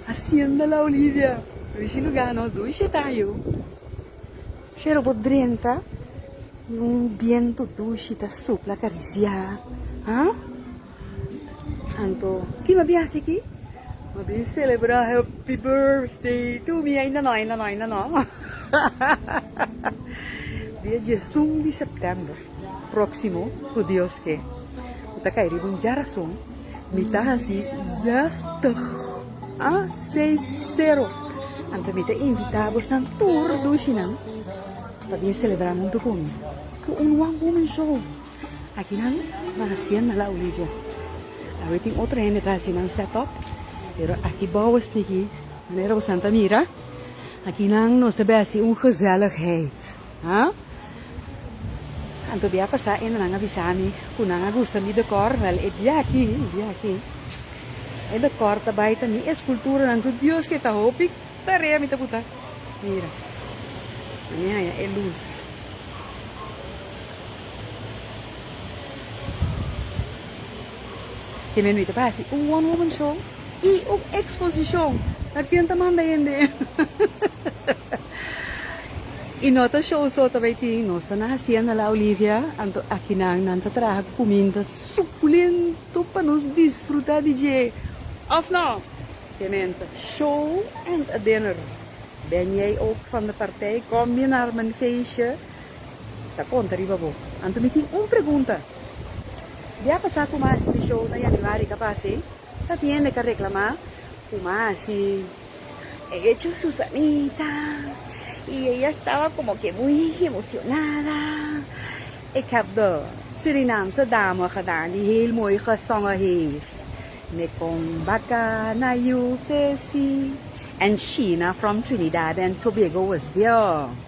Hacienda La Olivia, Rishi Lugano, Dui Shetayu. Shero bo drenta y un biento dushi ta supla carisia, ah? Anto, ki m'a bin haci aki? M'a bin celebra happy birthday to me, ainda no, ainda no, ainda no. Dia diesun di september. próksimo ku Dios ke. Ku ta kai riba un dja rason, mi ta hasi yèstùg, a seis sero. Anto mi ta invitá bosnan tur dushinan pa bin selebrá huntu ku mi ku un one woman show. Akinan na Hacienda La Olivo. Awe tin otro hende ta hasi nan sèt-òp, pero aki bou estigí manera bosan ta mira, akinan nos ta bai hasi un gezelligheid. Haa. Anto bia pasá enda nan a bisa mi ku nan a gusta mi dekòr? Wèl, e bia aki, e bia aki, e dekòr ta bai ta mi eskulturanan ku Dios ku e ta hopi tarea mi ta buta. Mira, na mi haña e lus. Ke men ui ta basi un one woman show. I un exposicion na kien ta manda hende. I no ta show so ta bay tin, nos ta na hacienda la Olivia, anto akinan nan ta traha cu cuminta suculento pa nos disfruta di dje, of no? Kementa, show and a dinner. Ben jay ook van de partij, kom bia nar men feestje, ta conta riba bo. Anto mi tin un pregunta, bia pasa cu mas di show na Januari ta pasa ey? Ta tin hende ta reklamá ku Masi a hecho Susanita i e a staba komo ke muy emocionada. Ik heb de Surinaamse dame gedaan die heel mooi gezongen heeft Me kom baka na you fesi and Sheena from Trinidad and Tobago was there.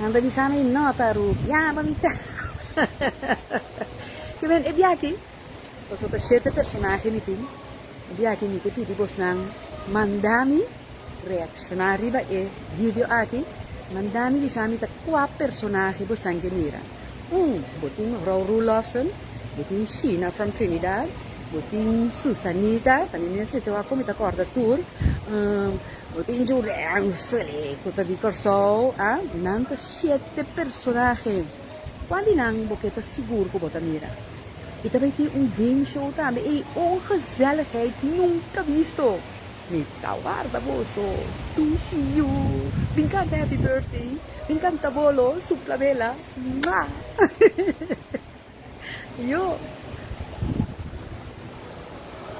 Nan ta bisa mi no ta rubi. Ya mamita. Ke men e biachi? Paso ta shete personahe mi tin. E biachi mi ke pidi bosnan manda mi reacciona riba e video aki. Manda mi bisa mi ta cua personahe bosnan ke mira. Un, bo tin Rou Roelofson, bo tin Sheena from Trinidad, bo tin Susanita, ta mi mes mester wak cu mi ta corda tur. No tin jurèn sele ku ta di Kòrsou, a? Nan ta shete personahe. Kual di nan bo ke ta sigur ku bo ta mira? I ta bai tin un game show tambe. Ey, un gezelligheid nunka bisto! Mi ta warda boso tu hiu. Bin kanta Happy Birthday, bin kanta bolo, supla bela. Mwa! Yo!